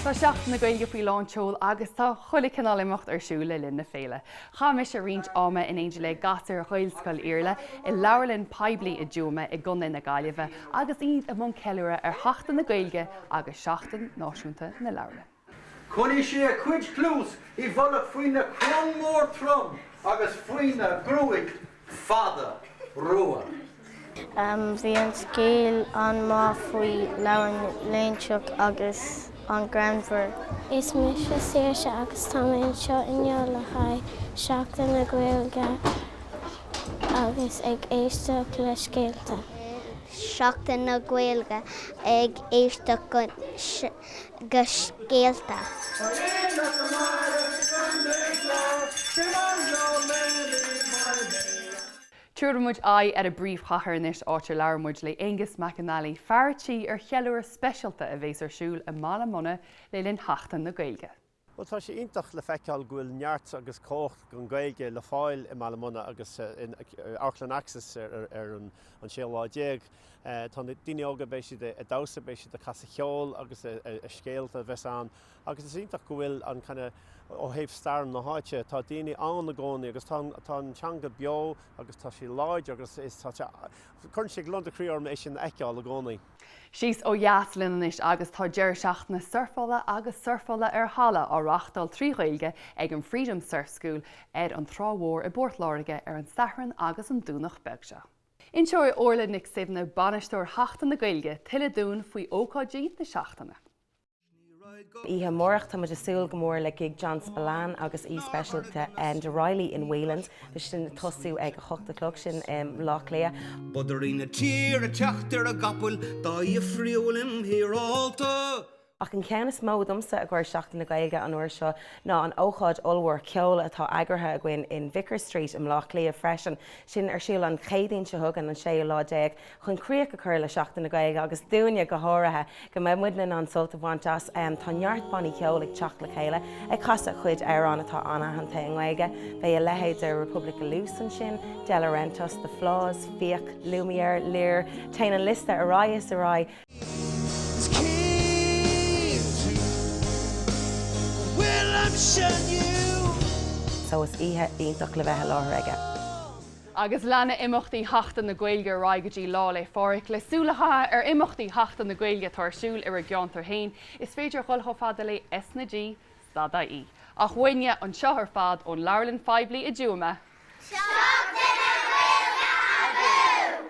Tá Seachtain na Gaeilge faoi lán tseol agus tá chuile cineál imeacht ar siúl le linn na féile. Chaith mise roinnt ama in éindí le gasúir Ghaelscoil Iarlaith i leabharlann phoiblí i dTuaim i gContae na Gaillimhe agus iad i mbun ceiliúradh ar Sheachtain na Gaeilge agus Seachtain Náisiúnta na Leabharlann. Chonaic sé a cuid cluas i bhfolach faoina coróin mhór throm agus faoina gruaig fhada rua. Bhí an scéal an-mhaith faoi Labhraí Loingseach agus an-ghreannmhar. Is mise Saoirse agus tá mé anseo inniu le haghaidh Seachtain na Gaeilge agus ag éisteacht le scéalta. Seachtain na Gaeilge ag éisteacht go go scéalta. Tabharfaidh muid aghaidh ar an bpríomhchathair anois, áit ar labhair muid le Aonghus McAnally, fear tí ar cheiliúradh speisialta a bhéas ar siúl i mBaile Munna le linn Sheachtain na Gaeilge. Bhuel, tá sé iontach le feiceáil go bhfuil neart agus cumhacht don Ghaeilge le fáil i mBaile Munna agus in Amharclann Axis ar an 16 lá. Tá daoine óga, beidh siad ag damhsa, beidh siad ag casadh ceoil agus scéalta a bheas ann agus is iontach go bhfuil an kind of ó thaobh stair na háite, tá daoine ann i gcónaí agus tá an teanga beo agus tá sí láidir agus cuireann sé gliondar croí orm é sin a fheiceáil i gcónaí. Síos ó dheas linn anois agus tá deireadh seachtaine surfála agus surfála ar thalamh á reáchtáil trí Ghaeilge ag an Freedom Surf School ar an Trá Mhór i bPort Láirge ar an Satharn agus an Domhnach beag seo. Inseoidh Orla Nic Shuibhne, Bainisteoir Sheachtain na Gaeilge, tuilleadh dúinn faoi ócáidí na seachtaine. Oíche amárach tá muid ag súil go mór le gig John Spillane agus aoi speisialta Enda Reilly in Whelan's, sin ag tosú ag a hocht a chlog, sin i mBleá Cliath. Bodaire na tíre ag teacht ar a gcapall dá fhiafraí le hÍreoil. Ach an ceann is mó domsa i gcomhair Seachtain na Gaeilge an uair seo ná an ócáid ollmhór ceoil atá eagraithe againn in Vicar Street i mBleá Cliath freisin. Sin ar siúl an Chéadaoin seo chugainn, an séú lá déag chun críoch a chur le Seachtain na Gaeilge agus dúinne go háirithe go mbeidh muidne in ann sult a bhaint as. Tá neart bannaí ceoil ag teacht le chéile ag casadh a gcuid amhrán atá an-aitheanta i nGaeilge. Beidh a leithéid de Republic of Loose ansin, Delorentos, The Flaws, Fiach, Lumiere, Lir, téann an liosta ar aghaidh is ar aghaidh. So is oíche iontach le bheith i láthair aige. Agus leanfaidh imeachtaí Sheachtain na Gaeilge ar aghaidh go dtí Lá 'le Phádraig. Le súil a chaitheamh ar imeachtaí Sheachtain na Gaeilge atá ar siúl i bhur gceantar féin, is féidir a dhul chomh fada le S na G dot i e. Ach uainne anseo ar fad ón Leabharlann Phoiblí i dTuama, Seachtain na Gaeilge abú!